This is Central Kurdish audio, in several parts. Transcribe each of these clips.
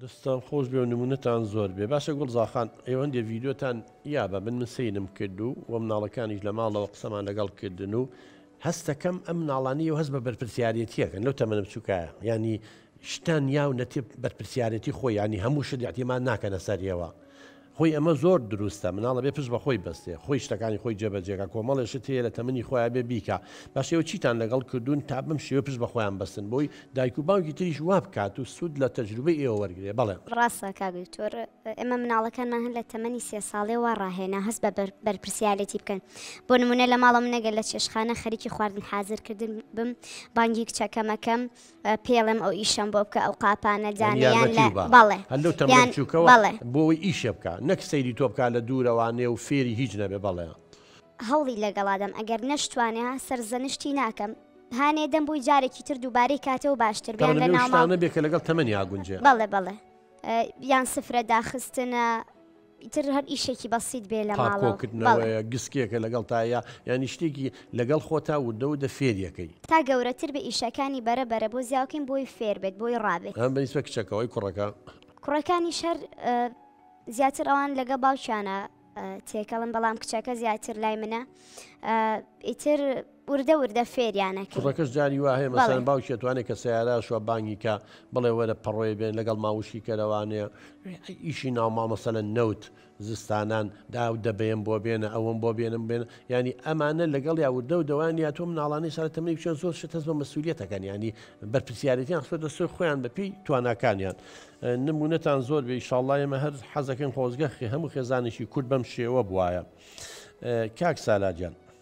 دەستان خۆش بێ و نمونەتان زۆر بێ باشە گوڵ زاخان ئێوە هەندێ ڤیدیۆتان یا بە من من سەیرم کرد و وە مناڵەکانیش لە ماڵەوە قسەمان لەگەڵ کردن و هەستەکەم ئەم ناڵانی و هەست بە بەرپرسیارەتیەکەن لەو تەمەە بچووکایە ینی شتان یاو نەتێ بەرپرسیارەتی خۆی ینی هەموو شت یاعتیمان ناکەنە سەر ئێوە خۆی ئەمە زۆر دروستە مناڵ ئەبێ پشت بەخۆی بەستێ خۆی شتەکانی خۆی جێبەجێکا کۆمەڵێ شت هەیە لە تەمەنی خۆی ئەبێ بیکا باشە ئێوە چیتان لەگەڵ کردوون تا بەم شێوە پشت بەخۆیان بەستن بۆی دایک و باوکی تریش وابکات و سود لە تەجروبەی ئێوە وەرگرێ بەڵێ. ڕاستە کاک دکتۆر ئێمە مناڵەکانمان هەر لە تەمەنی سێ ساڵێ وا ڕاهێنا هەست بە بەرپرسیارێتی بکەن بۆ نمونە لە ماڵە منەگەر لە چێشخانە خەریکی خواردن حازر کردن بم بانگی کچەکەم ئەکەم پێڵێم ئەو ئیشەم بۆ بکە ئەو قاپانە دانێ یان یارمەتی لە وبا بەڵێ هەر لەو تەمەنە یان بچووکەوە بەڵێ بۆی ئیشێ بکا نەک سەیری تۆ بکا لە دوورەوە نێ و فێری هیچ نەبێ بەڵێ. هەوڵی لەگەڵا دەم ئەگەر نەشتوانێ ها سەرزەنشتی ناکەم هانێ دەم بۆی جارێکی تر دووبارەی کاتەوە باشتر بێ یان تەمەنم لە لەو ناو ماڵ شتانە بێ کە لەگەڵ تەمەنیا گونجێ. بەڵێ بەڵێ یان سفرە داخستنە. ئیتر هەر ئیشێکی بەسیت بێ لە ماڵەوە. پاکۆ کردنەوەیە، گسکێکە لەگەڵ تا یا یانی شتێکی لەگەڵ خۆتا وردە وردە فێریەکەی. تا گەورەتر بێ ئیشەکانی بەرە بەرە بۆ زیاوکەین بۆی فێر بێت بۆی ڕابێت. ئەمە بە نیسبەت کچەکەوە ئەی کوڕەکە؟ کوڕەکانیش هەر زیاتر ئەوان لەگە باوکیانە تێکەڵن بەڵام کچەکە زیاتر لای منە ئیتر. وردە وردە فێریان ئەکەی. کوڕەکەش جاری وا هەیە مەسەلەن باوکی ئەتوانێ کە سەیارە شوە بانگی کا بڵێ وەرە پەڕۆیە بێن لەگەڵ ماڵ وشکی کەرەوانێ ئیشی ناو ماڵ مەسەلەن نەوت زستانان دا و دەبەیەم بۆ بێنە ئەوەم بۆ بێنم بێن ینی ئەمانە لەگەڵ یا وردە و دەوان یا تۆ مناڵانی سەر تەمەنی بچێن زۆر شت هەست بە مەسوولیەتەکەن ینی بەرپسیارەتیان خۆ دەستۆی خۆیان بەپی تواناکانیان نمونەتان زۆر بێ شاڵڵای ئمە هەر حەزەکەن خۆزگەخی هەموو خێزانێکی کورد بەم شێوە بواە کاک سالاجان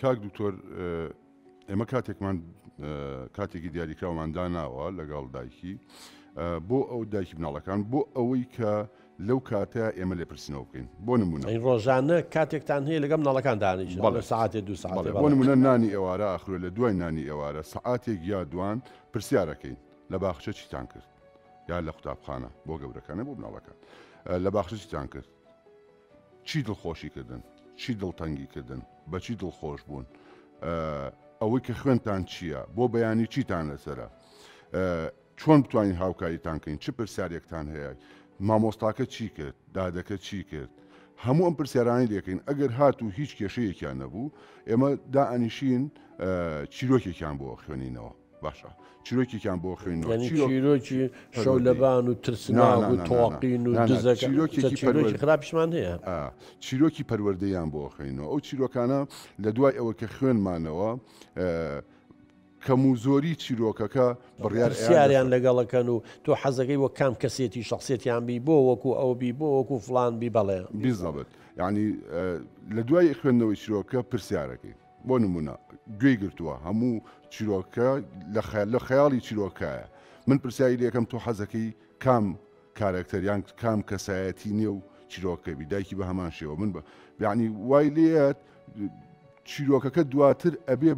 کاک دکتۆر ئێمە کاتێکمان کاتێکی دیاریکراومان داناوە لەگەڵ دایکی بۆ ئەو دایکی مناڵەکان بۆ ئەوەی کە لەو کاتە ئێمە لێ پرسینەوە بکەین بۆ نمونە ڕۆژانە کاتێکتان هەیە لەگەم ناڵەکان دانیش بەڵێ ساعتێ دو ساڵ بۆ نمونە نانی ئێوارە ئاخرێ لە دوای نانی ئێوارە سعاتێک یا دوان پرسیارەکەین لە باخچە چیتان کرد یا لە قوتابخانە بۆ گەورەکانە بۆ مناڵەکان لە باخچە چیتان کرد چی دڵخۆشی کردن؟ چی دڵتەنگی کردن؟ بە چی دڵخۆش بوون؟ ئەوەی کە خوێنتان چییە؟ بۆ بەیانی چیتان لەسرە؟ چۆن بتوانین هاوکاریتان کەین چ پرسیارێکتان هەیە؟ مامۆستاکە چی کرد؟ دادەکە چی کرد؟ هەموو ئەم پرسیارانی لەکەین ئەگەر هات و هیچ کێشەیەکیان نەبوو ئێمە دائنیشین چیرۆکێکیان بۆ خوێنینەوە. باشە چیرۆکێکیان بۆ خوێنەوە یعنی چیرۆک- چیرۆکی پەروەردەی. شەو لەبان و نا، نا، ترسناک نا، و نا، نا. تۆقین و نا، نا، دزەکە چیرۆکێکی چە چیرۆکی پەروەر- خراپیشمان هەیە ئا، چیرۆکی پەروەردەیان بۆ خوێنەوە ئەو چیرۆکانە لە دوای ئەوە کە خوێنمانەوە ئە، کەم و زۆری چیرۆکەکە بڕیار ئەیان پرسیاریان دەسە- لەگەڵەکەن و تۆ حەزەکەی وە کام کەسێتی شەخسێتیان بی بۆ وەکو ئەو بی بۆ وەکو فڵان بی بەڵێ. بیزەبت یعنی ئە، لە دوای خوێندنەوەی چیرۆکە پرسیارەکەی. بۆ نمونە گوێی گرتووە هەموو چیرۆکە لە خەیاڵی چیرۆکایە من پرسیاری لەکەم تۆ حەزەکەی کام کارەکتەریان کام کەسایەتی نێو چیرۆکەبی دایکی بە هەمان شێوە من بە یعنی وای لێت چیرۆکەکە دواتر ئەبێ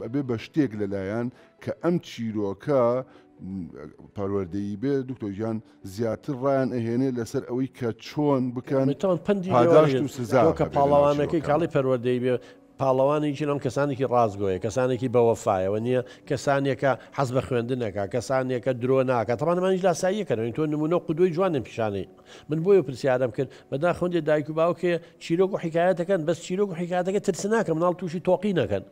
ئەبێ بە شتێک لەلایەن کە ئەم چیرۆکە پەروەردەی بێ دکتۆژیان زیاتر ڕایان ئەهێنێ لەسەر ئەوەی کە چۆن بکەن پاداشت و سزا هەبێ لە ناو چیرۆکەکە. پاڵەوانەکەی کاڵی پەروەردەی بێ پاڵەوانی ژنان کەسانێکی ڕاستگۆیە، کەسانێکی بە وەفایەوە نیە، کەسانێکە حەز بە خوێندن ئەکا، کەسانێکە درۆ ناکا، تەبعەن ئەمانیش لاساییەکەن ئەوەی تۆ نمونە و قودوەی جوانیان پیشانەی من بۆیە پرسیارم کرد بەداخەوە دایک و باوکێ چیرۆک و حیکایەتەکەن بەس چیرۆک و حیکایەتەکە ترسناکە مناڵ توشی تۆقینەکەن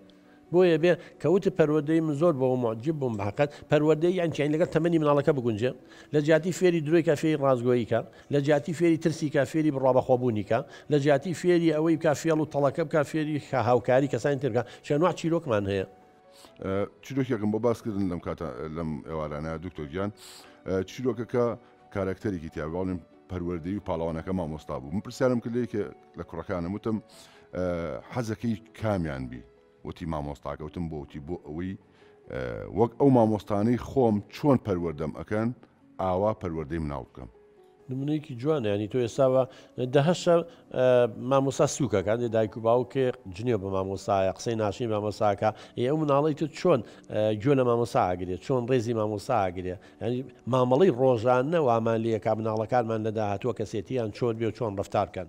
بۆیە بێ کە وتت پەروەردەی من زۆر بەوە موعجیب بووم بەحەقت پەروەردەی یان چیاین لەگەڵ تەمەنی مناڵەکە بگونجێ لە جیاتی فێری درۆی کا فێری ڕاستگۆیی کا لە جیاتی فێری ترسی کا فێری بڕوابەخوا بوونی کا لە جیاتی فێری ئەوەی بکا فێڵ و تەڵەکە بکا فێری کا هاوکاری کەسانی تر بکا چ ئەنواع چیرۆکمان هەیە. چیرۆکێکم بۆ باس کردن لەم کاتە لەم ئێوارانە دکتۆر گیان چیرۆکەکە کارەکتەرێکی تیا بەڵێن پەروەردەی و پاڵەوانەکە مامۆستا بوو من پرسیارم کرد لێکە لە کوڕەکانم وتم حەزەکەی کامیان بی وتی مامۆستاکەوتم بۆتی بۆ ئەوەی وەک ئەو مامۆستانەی خۆم چۆن پەروەردەم ئەەکەن ئاوا پەروەردەی مناڵ بکەم نمونەیەکی جوانە ینی تۆ ئێستاوە دەهشە مامۆسا سوکەکان دێ دایک و باوکێ جنێ بە مامۆسایە قسەی ناشی مامۆساکە ئێ ئەو مناڵی تو چۆن گوێ لە مامۆساگرێت چۆن ڕێزی مامۆساگرێ یانی مامەڵەی ڕۆژانە وامان لێ ئەکا مناڵەکانمان لە داهاتووە کەسێتیان چۆن بێ و چۆن ڕەفتار کەن